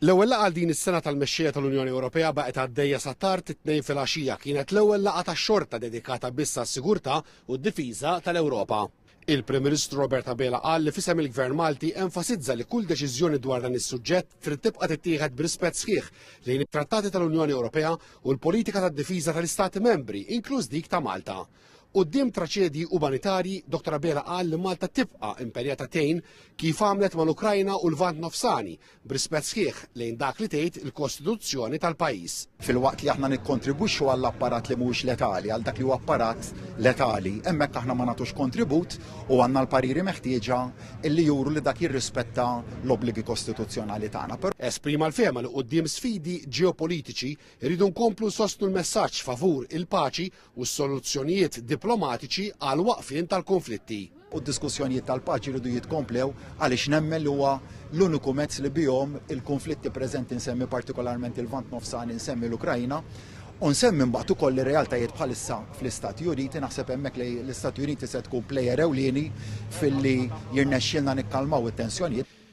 L-ewwel laqgħa għal din is-sena tal-mexxejja tal-Unjoni Ewropea baqgħet għaddejja sa tard it-Tnejn filgħaxija kienet l-ewwel laqgħa tax-xorta dedikata biss għas-sigurtà u d-difiża tal-Ewropa. Il-Prim Ministru Robert Abela qal li f'isem il-Gvern Malti enfasizza li kull deċiżjoni dwar dan is-suġġett trid tibqa' tittieħed b'rispett sħiħ lejn it-trattati tal-Unjoni Ewropea u l-politika tad-difiża tal-Istati Membri, inkluż dik ta' Malta. Quddiem traċedji umanitarji, Dottor Abela qal li Malta tibqa' impenjata tgħin kif għamlet mal-Ukrajna u l-Lvant Nofsani, b'rispett sħiħ lejn dak li tgħid il-Kostituzzjoni tal-pajjiż. Filwaqt li aħna nikkontribwixxu għall-apparat li mhuwiex letali, għal dak li huwa apparat letali, hemmhekk aħna ma nagħtux kontribut u għandna l-pariri meħtieġa li juru li dak jirrispetta l-obbligi kostituzzjonali tagħna. Esprima l-fehma li quddiem sfidi ġeopolitiċi, irridu nkomplu nsostnu l-messaġġ favur il-paċi u s-soluzzjonijiet diplomatiċi għall-waqfien tal-kunflitti. u d-diskussjonijiet tal-paċi jridu jitkomplew għaliex nemmen li huwa l-uniku mezz li bihom il-kunflitti preżenti nsemmi partikolarment il-Lvant Nofsani, nsemmi l-Ukrajna, u nsemmi mbagħad ukoll ir-realtajiet bħalissa fl-Istati Uniti, naħseb hemmhekk li l-Istati Uniti se tkun plejer ewlieni filli jirnexxielna nikkalmaw it-tensjonijiet.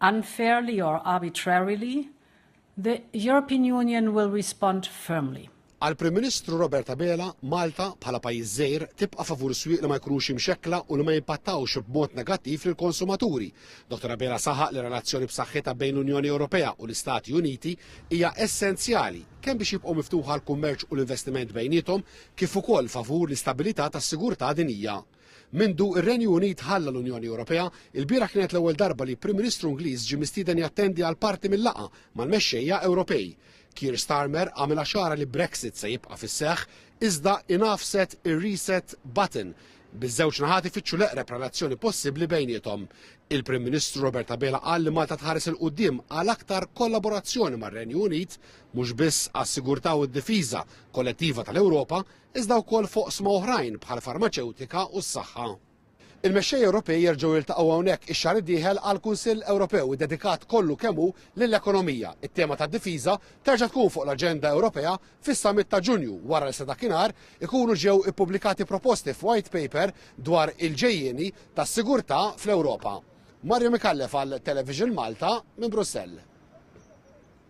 unfairly or arbitrarily, the European Union will respond firmly. Għall-Prim Ministru Robert Abela, Malta, bħala pajjiż żgħir, tibqa' favur swieq li ma jkunux imxekkla u li ma jimpattawx b'mod negattiv lill-konsumaturi. Dottor Abela saħaq li relazzjoni b'saħħitha bejn l-Unjoni Ewropea u l-Istati Uniti hija essenzjali kemm biex jibqgħu miftuħa l-kummerċ u l-investiment bejniethom kif ukoll favur l-istabilità tas-sigurtà dinjija. Mindu r-Renju Unit ħalla l-Unjoni Ewropea, ilbieraħ kienet l-ewwel darba li Prim Ministru Ingliż ġie mistieden jattendi għal parti mil-laqgħa mal-mexxejja Ewropej. Keir Starmer għamilha ċara li Brexit se jibqa' fis-seħħ, iżda ingħafset ir-reset button, biż-żewġ naħat ifittxu l-eqreb relazzjoni possibbli bejniethom. Il-Prim Ministru Robert Abela qal li Malta tħares 'il quddiem għal aktar kollaborazzjoni mar-Renju Unit, mhux biss għas-sigurtà u d-difiża kollettiva tal-Ewropa, iżda wkoll f'oqsma oħrajn bħall-farmaċewtika u s-saħħa. Il-mexxejja Ewropej jerġgħu jiltaqgħu hawnhekk ix-xahar id-dieħel għal Kunsill Ewropew iddedikat kollu kemm hu lill-ekonomija. It-tema tad-difiża terġa' tkun fuq l-aġenda Ewropea fis-summit ta' Ġunju wara li sa dakinhar ikunu ġew ippubblikati proposti f'White Paper dwar il-ġejjieni tas-sigurtà fl-Ewropa. Mario Micallef għal Television Malta minn Brussell.